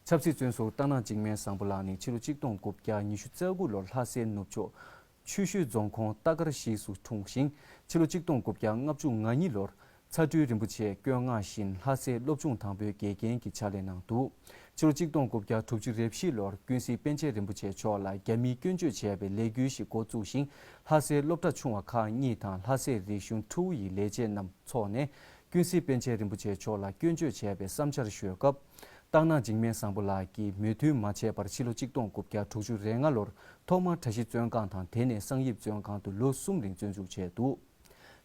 ཆབ་སྲིད་བཙོན་ཟུར་རྟ་ནག་འཇིགས་མེད་བཟང་པོ་ལགས་ནི་ཕྱི་ལོ་གཅིག་སྟོང་དགུ་བརྒྱ་ཉི་ཤུ་རྩ་དགུ་ལོར་ལྷ་སའི་ནུབ་ཕྱོགས། ཆུ་ཤུལ་རྫོང་ཁོངས་རྟ་དཀར་གཞིས་སུ་འཁྲུངས་ཤིང་ཕྱི་ལོ་གཅིག་སྟོང་དགུ་བརྒྱ་ལྔ་བཅུ་ང་གཉིས་ལོར། ཚ་སྤྲུལ་རིན་པོ་ཆེས་བསྐྱོད་མངགས་བཞིན་ལྷ་སའི་སློབ་ཆུང་དང་པོའི་དགེ་རྒན་གྱི་ཕྱག་ལས་གནང་འདུག་ཕྱི་ལོ་གཅིག་སྟོང་དགུ་བརྒྱ་དྲུག་ཅུ་རེ་བཞི་ལོར་ཀུན་གཟིགས་པཎ་ཆེན་རིན་པོ་ཆེ་མཆོག་ལ་རྒྱ་མིས་སྐྱོན་བརྗོད་བྱས་པའི་ལས་འགུལ་ཞིག་འགོ་བཙུགས་ཤིང་ལྷ་སའི་སློབ་གྲྭ་ཆུང་བ་ཁག་གཉིས་དང་ལྷ་སའི་རིག་གཞུང་ཁྲོ་བོ་ཡི་ལས་བྱེད་རྣམས་འཚོགས་ནས་ཀུན་གཟིགས་པཎ་ཆེན་རིན་པོ་ཆེ་མཆོག་ལ་སྐྱོན་བརྗོད་བྱས་པའི་བསམ་འཆར་ཤོད་སྐབས། སྟག་ནག་འཇིགས་མེད་བཟང་པོ་ལགས་ཀྱིས་མོས་མཐུན་མ་བྱས་པར་ཕྱི་ལོ་གཅིག་སྟོང་དགུ་བརྒྱ་དྲུག་ཅུ་རེ་ལྔ་ལོར་ཐོག་མར་གྲྭ་བཞི་བཙོན་ཁང་དང་དེ་ནས་གསང་ཡིབ་བཙོན་ཁང་དུ་ལོ་གསུམ་རིང་བཙོན་འཇུག་བྱས་འདུག་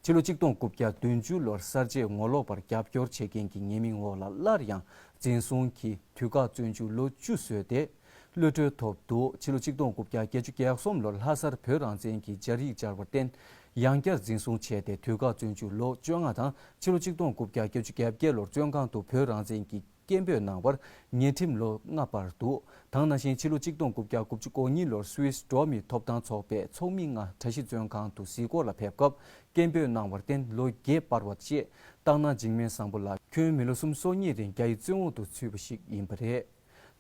ཕྱི་ལོ་གཅིག་སྟོང་དགུ་བརྒྱ་བདུན་ཅུ་ལོར་གསར་བརྗེ་ངོ་ལོག་པར་རྒྱབ་སྐྱོར་བྱེད་མཁན་གྱི་ཉེས་མིང་འོག་ལ་སླར་ཡང་འཛིན་བཟུང་གིས་དུས་བཀག་བཙོན་འཇུག་ལོ་བཅུ་བཟོས་ཏེ། གློད་བཀྲོལ་ཐོབ་འདུག་ཕྱི་ལོ་གཅིག་སྟོང་དགུ་བརྒྱ་བརྒྱད་ཅུ་གྱ་གསུམ་ལོར་ལྷ་སར་བོད་རང་བཙན་གྱི་སྦྱར་ཡིག་སྦྱར་བར་བརྟེན། ཡང་བསྐྱར་འཛིན་བཟུང་བྱས་ཏེ་དུས་བཀག་བཙོན་བཅུག་ལོ་བཅོ་ལྔ་དང་ཕྱི་ལོ་གཅིག་སྟོང་དགུ་བརྒྱ་བརྒྱད་ཅུ་གྱ་བརྒྱད་ལོར་བཙོན་ཁང་དུ་བོད་རང་བཙན་གྱི་སྐད་འབོད་གནང་བར་ཉེས་ཁྲིམས་ལོ་ལྔ་བར་འདུག་ཐང་ན་བཞིན་ཕྱི་ལོ་གཅིག་སྟོང་དགུ་བརྒྱ་དགུ་བཅུ་གོ་གཉིས་ལོར Swiss འགྲོ་མིའི་ཐོབ་ཐང་ཚོགས་པའི་ཚོགས་མི་ལྔ་གྲ་བཞི་བཙོན་ཁང་དུ་གཟིགས་སྐོར་ལ་ཕེབས་སྐབས་སྐད་འབོད་གནང་བར་བརྟེན་ལོ་བརྒྱད་སྤར་བ་བཅས་བཏང་ན་འཇིགས་མེད་བཟང་པོ་ལགས་ཁྱོད་མི་ལོ་གསུམ་སོ་གཉིས་རིང་རྒྱ་ཡི་བཙོན་འོག་ཏུ་ཚུད་པ་ཞིག་ཡིན་པ་རེད།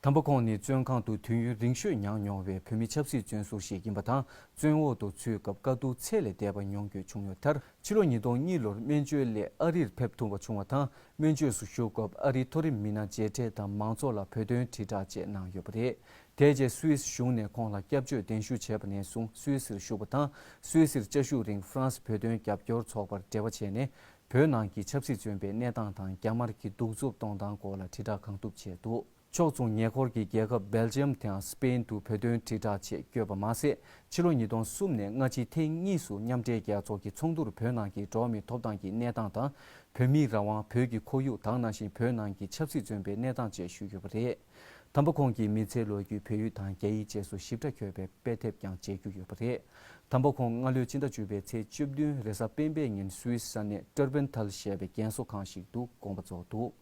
དམ་པ་ཁོང་ནི་བཙོན་ཁང་དུ་དུས་ཡུན་རིང་ཤོས་མྱངས་མྱོང་བའི་བོད་མི་ཆབ་སྲིད་བཙོན་ཟུར་ཞིག་ཡིན་པ་དང་བཙོན་འོག་ཏུ་ཚུད་སྐབས་དཀའ་སྡུག་ཚད་ལས་འདས་པ་མྱོང་རྒྱུ་བྱུང་ཡོད་མཐར། ཕྱི་ལོ་ཉིས་སྟོང་གཉིས་ལོར་སྨན་བཅོས་སླད་ཨ་རིར་ཕེབས་ཐུབ་པ་བྱུང་བ་དང་སྨན་བཅོས་སུ་ཞུགས་སྐབས་ཨ་རིའི་མཐོ་རིམ་མི་སྣ་མཇལ་འཕྲད་དང་མང་ཚོགས་ལ་བོད་དོན་དྲིལ་བསྒྲགས་བཅས་གནང་ཡོད་པ་རེད། དེ་རྗེས Swiss གཞུང་ནས་ཁོང་ལ་སྐྱབས་བཅོལ་གདན་ཞུ་བྱས་པ་ནས་བཟུང Swiss ཞུགས་པ་དང Swiss བཅའ་བཞུགས་རིང France བོད་དོན་རྒྱབ་སྐྱོར་ཚོགས་པར་འབྲེལ་བ་བྱས་ནས་བོད་ནང་གི་ཆབ་སྲིད་བཙོན་པའི་གནས་སྟངས་དང་རྒྱ་དམར་གྱི་གདུག་རྩུབ་གཏོང་སྟངས་སྐོར་ལ་དྲིལ་བསྒྲགས་གང་ཐུབ་བྱས་འདུག་ཕྱོགས་མཚུངས་ཉེ་འཁོར་གྱི་རྒྱལ་ཁབ་སྦེལ་ཇེམ་དང་སི་པེན་དུ་བོད་དོན་དྲིལ་བསྒྲགས་ཆེད་བསྐྱོད་པ་མ་ཟད་ཕྱི་ལོ་ཉིས་སྟོང་གསུམ་ནས་སྔ་ཕྱི་ཐེངས་གཉིས་སུ་མཉམ་འབྲེལ་རྒྱལ་ཚོགས་ཀྱི་ཚོགས་འདུར་བོད་ནང་གི་འགྲོ་མིའི་ཐོབ་ཐང་གི་གནས་སྟངས་དང་བོད་མིའི་རང་དབང་བོད་ཀྱི་ཁོར་ཡུག་དང་ནང་བཞིན་བོད་ནང་གི་ཆབ་སྲིད་བཙོན་པའི་གནས་སྟངས་བཅས་ཞུས་ཡོད་པ་རེད། དམ་པ་ཁོང་གིས་མི་ཚེའི་ལོ་རྒྱུས་བོད་ཡིག་དང་རྒྱ་ཡིག་བཅས་སུ་ཞིབ་ཕྲ་འཁྱོལ་བའི་དཔེ་དེབ་ཀྱང་མཇལ་རྒྱུ་ཡོད་པ་རེད། དམ་པ་ཁོང་སྔ་ལོའི་སྤྱི་ཟླ་བཅུ་པའི་ཚེས་བཅུ་བདུན་རེས་གཟའ་སྤེན་པའི་ཉིན་སུའི་ས་གནས Tröbenthal ཞེས་པའི་རྒན་གསོ་ཁང་ཞིག་ཏུ་དགོངས་པ་རྫོགས་འདུག།